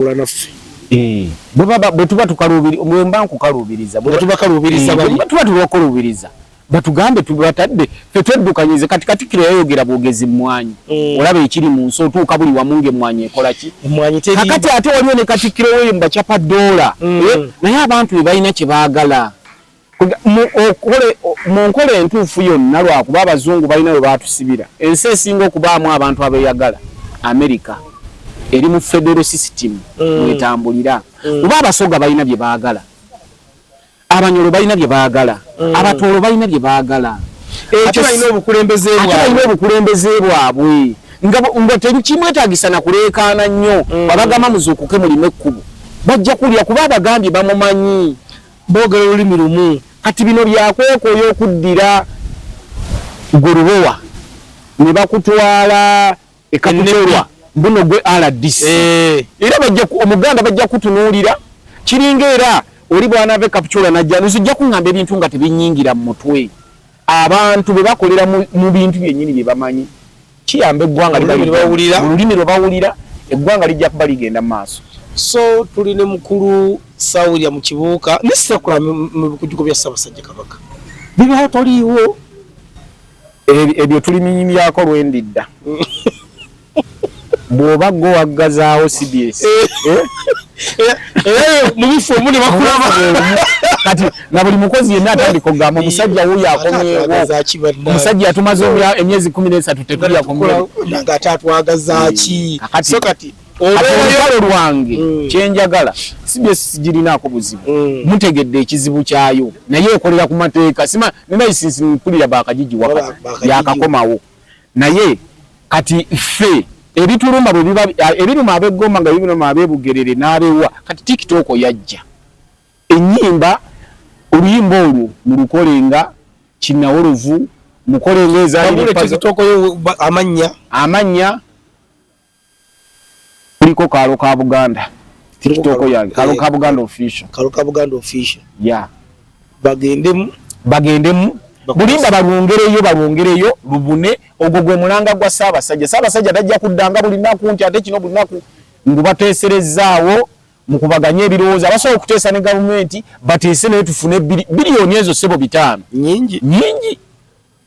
bakola naffe eh, bwe tuba tukaluubiriza bwe mba nkukaluubiriza bwe tuba kaluubiriza eh, bwe tuba tubakukaluubiriza batugambe tubatadde fe tweddukanyize kati katikkiro yayogera bwogezi mmwanyi mm. olaba ekiri mu nsi otuuka buli wamu ng'emmwanyi ekola ki kakati ate waliwo ne katikkiro weyo mu bacapa doola mm. eh, naye abantu be balina kye baagala mu nkola entuufu yonna lwakuba abazungu balina we baatusibira ensi esinga okubaamu abantu abeeyagala amerika eri mu federo sisitimu mm. mwetambulira mm. kuba abasoga balina bye baagala abanyolo balina bye baagala mm. abatoolo balina bye baagala ekyo balina obukulembeze bwabwe nga tekimwetagisa na kuleekaana nnyo mm. babagamba muzuukuke mulime ekkubo bajja kulya kuba abagambye bamumanyi Boogera olulimi lumu. Kati bino byakwekoya okuddira gwe lubowa ne bakutwala e Kapchorwa buno gwe RDC eh. era omuganda bajja kutunuulira kiringa era oli bwanaava e Kapchorwa najja nzijja kuŋŋamba ebintu nga tebinyingira mu mutwe Abantu bwe bakolera mu bintu byennyini bye bamanyi kiyamba eggwanga mu lulimi lwe bawulira eggwanga lijja kuba ligenda mu maaso. So tuli ne mukulu Sawulya mu kibuuka ne Ssekula mu bikujuko bya Ssaabasajja Kabaka. Bibaawo toliiwo. Ebyo tuli minyimyako lwendidda. bwoba gwe waggazaawo cbs eh. eh? eh, mubifo omu ne bakulaba kati na buli mukozi yenna atandika okugamba omusajja wuyo akomyewo omusajja yatumaze emyezi kumi n'esatu tetulya kumnanga ate atwagazaaki hmm. kati olwalo lwange hmm. kyenjagala cbs sigirinaako buzibu hmm. mutegedde ekizibu kyayo naye ekolera ku mateeka sima nenaisinsi mpulira bakajijiwaka yakakomawo naye kati ffe ebituluma bwe biba ebiruma ab'eggomba nga bibiruma ab'ebugerere n'abewa kati tiktok yajja ennyimba oluyimba olwo mulukolenga kinnawolovu mukolenga ezaamannya amannya kuliko kaalo ka buganda tikitoko yange kaalo eh, ka buganda official kaalo ka buganda official ya bagendemu bagendemu bulimba balwongereyo balwongereyo lubune ogwo gwe mulanga gwa ssaabasajja ssaabasajja tajja kuddanga buli naku nti ate kino buli naku ngubateeserezzaawo mukubaganye ebirowoozo abasobola okuteesa ne gavumenti bateese naye tufune biliyoni ezo ssebo bitaano nyingi nyingi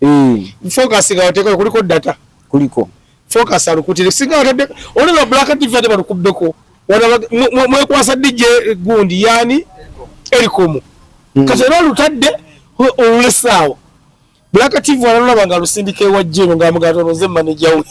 Eh. Focus nga oteko kuliko data. Kuliko. Focus alukutire singa otadde ono la black TV ate balukubbeko. Wana mwe kwasa DJ gundi yani erikomu. Mm. Kati era olutadde olulesaawo. Black TV alulaba nga lusindika ewa jjeno nga mugatoloze manager we.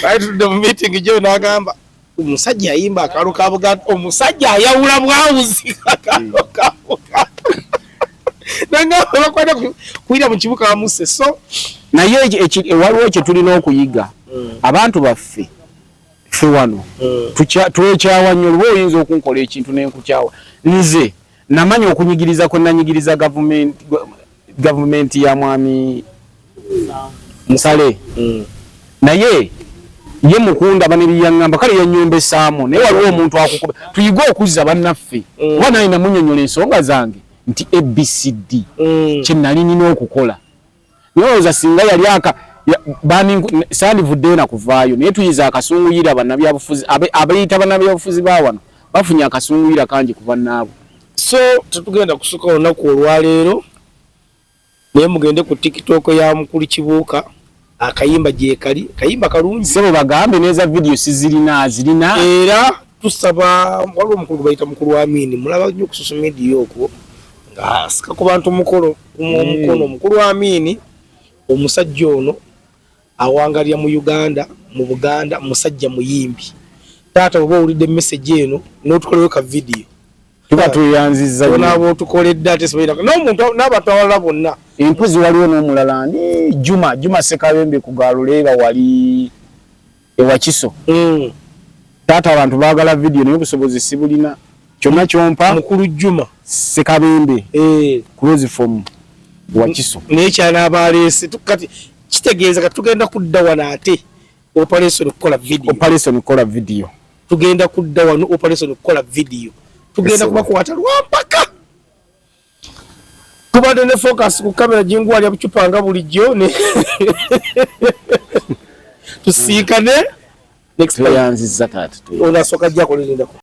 Right to the meeting jjeno agamba. Omusajja ayimba akalo ka Buganda, omusajja ayawula bwawuzi akalo ka Buganda. Nanga bakwata kuira mu kibuga amuse so naye waliwo kye tulina okuyiga mm. abantu baffe ffe wano mm. twekyawa nnyo luba oyinza okunkola ekintu nenkukyawa nze Namanya okunyigiriza kwe nanyigiriza gavumenti gavumenti ya mwami Musale mm. naye ye mukundaba nebiyaŋŋamba kale yanyombesaamu naye waliwo omuntu akukuba tuyige okuzza bannaffe mm. kuba naye namunyonyola ensonga zange nti abcd mm. kye nali nina okukola Nyoza singa yali aka bani sandi vude na kuvayo naye tuyiza akasungu yira bana bya bufuzi abe abayita bana bya bufuzi ba wano bafunya akasungu yira kanji kuva nabo so tutugenda kusuka ona ku olwa lero naye mugende ku TikTok ya mukuli kibuka akayimba je kali kayimba kalungi sebo bagambe neza video sizirina azirina era tusaba waliwo omukulu gwe bayita mukulu wa amini mulaba nnyo ku social media okwo ng'asika ku bantu mukolo omukono mm. mukulu Amiini omusajja ono awangalira mu Uganda mu Buganda musajja muyimbi taata oba owulidde message eno n'otukolewo ka vidiyo tuba tweyanzizza onaaba otukoledde ate sibaira n'omuntu n'abantu abalala bonna empozi waliwo n'omulala ni Juma Juma Sekabembe ku Galuleeba wali e Wakiso. Mm. Taata abantu baagala vidiyo naye obusobozi sibulina. Kyonna kyompa. Mukulu Juma. Sekabembe. Eh. Close form. Wakiso. Naye kyana abaleese. Kati kitegeeza kati tugenda kudda wano ate operation okukola vidiyo. Operation okukola vidiyo. Tugenda kudda wano operation okukola vidiyo. Tugenda kubakwata lwampaka. Tubadde ne focus ku kamera jinguwali abucupa nga bulijjo ne tusiikane next time. Tweyanzizza kati. Onasoka jja kulinda.